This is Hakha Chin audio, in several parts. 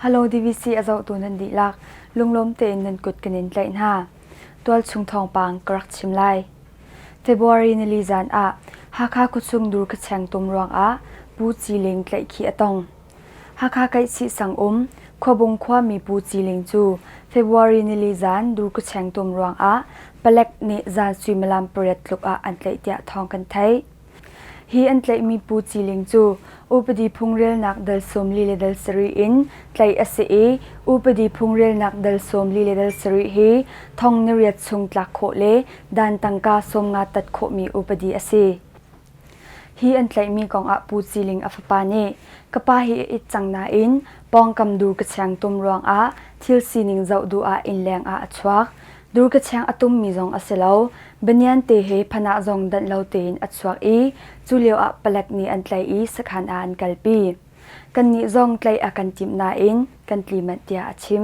Halo DVC a zohtu nan dihlak lunglawm tein nan kut kan in tlaih hna. Tualchung thawngpang ka rak chim lai. February nili zan ah Hakha kutsung dur kacheng tum ruang ah Pu Ci Ling tlaih khi a tong. Hakha Kaihsi sang um Khuabung khuami Pu Ciling cu February nili zan dur khucheng tum ruangah palek nih zan suimilam pariat tluk ah an tlaih tiah thawng kan theih. Hi an tlaihmi Pu Ciling cu upadi phungrelnak dal sawm li le dal sarih in tlaih a si i upadi phungrelnak dal sawm li le dal sarih hi thong ni riat chung tlak khawh le dan tangka sawm nga tat khawhmi upadi a si. Hi an tlaihmi kongah Pu Ciling a fapa nih ka pa hi a it cang nain pawngkam dur ka chiang tum ruangah thil sining zoh duh ah innleng ah a chuak. Dur ka chiang a tummi zong a si lo. Banian te he phan ah zong danh lo tein a chuak i cu lio ah palek nih an tlaih i sakhan ah an kalpi. Kannih zong tlaih a kan timh nain kan tli manh tiah a chim.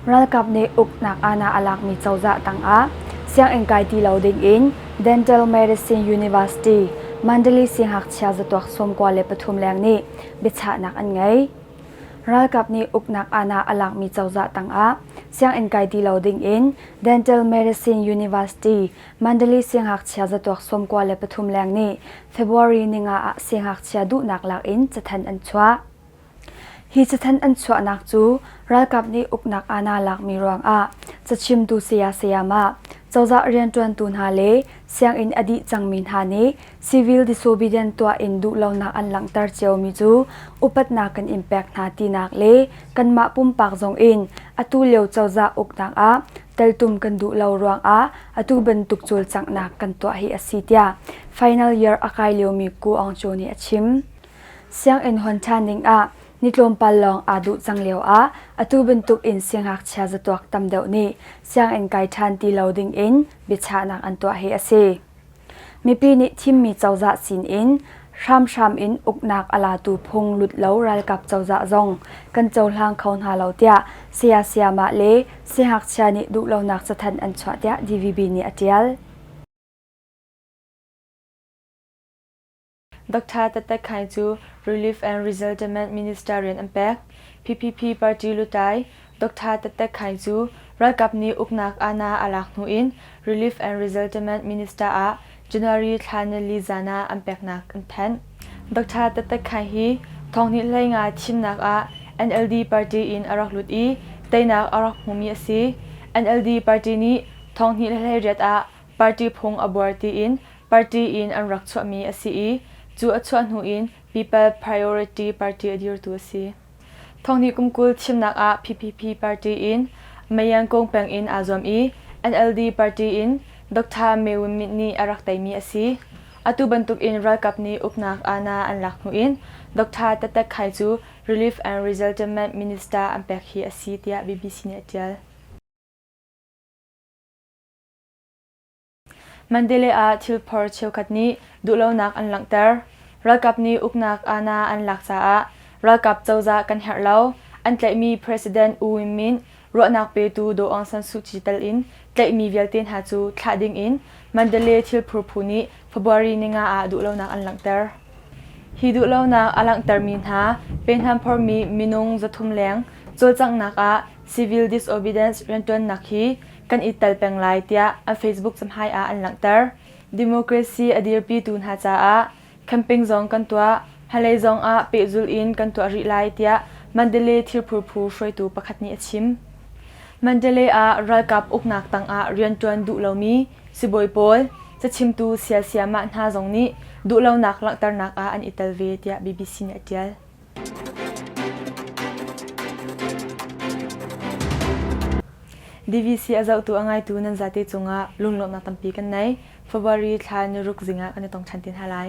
Ralkap nih uknak aana a lakmi cozah tangah sianginn kai ti lo dingin Dental Medicine University Mandali Singhakchia Zatuak Sawmkua le pathum leng nih biachahnak an ngei. Ralkap nih uknak aana a lakmi cozah tangah sianginn kai ti lo dingin Dental Medicine University Mandali Singhakchia Zatuak Sawmkua le pathum leng nih February ninga ah singhakchia duhnak lakin cathanh an chuah. Hi cathanh an chuahnak cu ralkap nih uknak ah naa lakmi ruangah cachimtu saya sayama, cozah rianṭuantu hna le sianginn a dih cangmi hna nih civil disobedient tuah in duhlonak an langhter ciomi cu upatnak kan in pek hna tinak le kanmah pumpak zong in atu lio cozah uknak ah teltum kan duh lo ruangah atu bantuk cawlcanghnak kan tuah hi a si tiah final year a kai liomi Ku Aung Chaw nih a chim. Sianginn hawn ṭhan dingah ni tlawmpal lawng aa duh cang lioah atu bantuk in siangngakchia zatuak tam deuh nih sianginn kai ṭhan ti lo dingin biachahnak an tuah hi a si. Mipi nih thimmi cozah sinin hramhram in uknak a latu phung lut lo ralkap cozah zong kan cohlang kho hna lo tiah saya-sayamah le siangngakchia nih duhlonak cathanh an chuah tiah DVB nih a ṭial. Doctor Tatak Khai cu Relief and Resettlement Minister rian an pek. PPP party lutlai Doctor Tatak Khai cu ralkap nih uknak aana a lak hnu in Relief and Resettlement Minister ah January thla nili zan ah an peknak an thanh. Doctor Tatak Khai hi thonghnih hlei nga thimnak ah NLD party in a rak lut i teinak a rak hmumi a si. NLD party nih thonghnih hlei riat ah party phung a buar tiin party in an rak chuahmi a si i cu a chuah hnu in People Priority Party a dirtu a si. Thonghni kum kul thimnak ah ppp party in Mayangkung peng in aa zuam i NLD party in Doctor Myo Myint nih a rak teimi a si. Atu bantukin ralkap nih uknak aana an lak hnu in Doctor Tatek Khai cu Relief and Resettlement Minister an pek hi a si tiah BBC nih a ṭial. Mandalay ah thilphor cheukhat nih duhlonak an langhter. Ralkap nih uknak aana an lak caah ralkap cozah kan herh lo. An tlaihmi President U Win Myint ruahnak petu Daw Aung San Suu Kyi tal in tlaihmi vialte hna cu thlah ding in Mandalay thilphur phu nih February ni nga ah duhlonak an langhter. Hi duhlonak a langhtermi hna pehhnamphormi minung zathum leng cawlcanghnak ah civil disobedience rianṭuannak hi kan i tel peng lai tiah a Facebook cahmai ah an langhter. Democracy a dirpitu hna caah campaign zong kan tuah, hmalei zong ah pehzul in kan tuah rih lai tiah Mandalay thirphur phu hruaitu pakhat nih a chim. Mandalay ah ralkap uknak tangah rianṭuan duh lomi sibawi pawl, cachimtu sialsiah mah hna zong nih duhlonak langhternak ah an i tel ve tiah BBC nih a ṭial. DVC a zohtu a ngaitu nan zate cungah lunglawmhnak tampi kan nei. February thla niruk zingah kan i tong ṭhan te hna lai.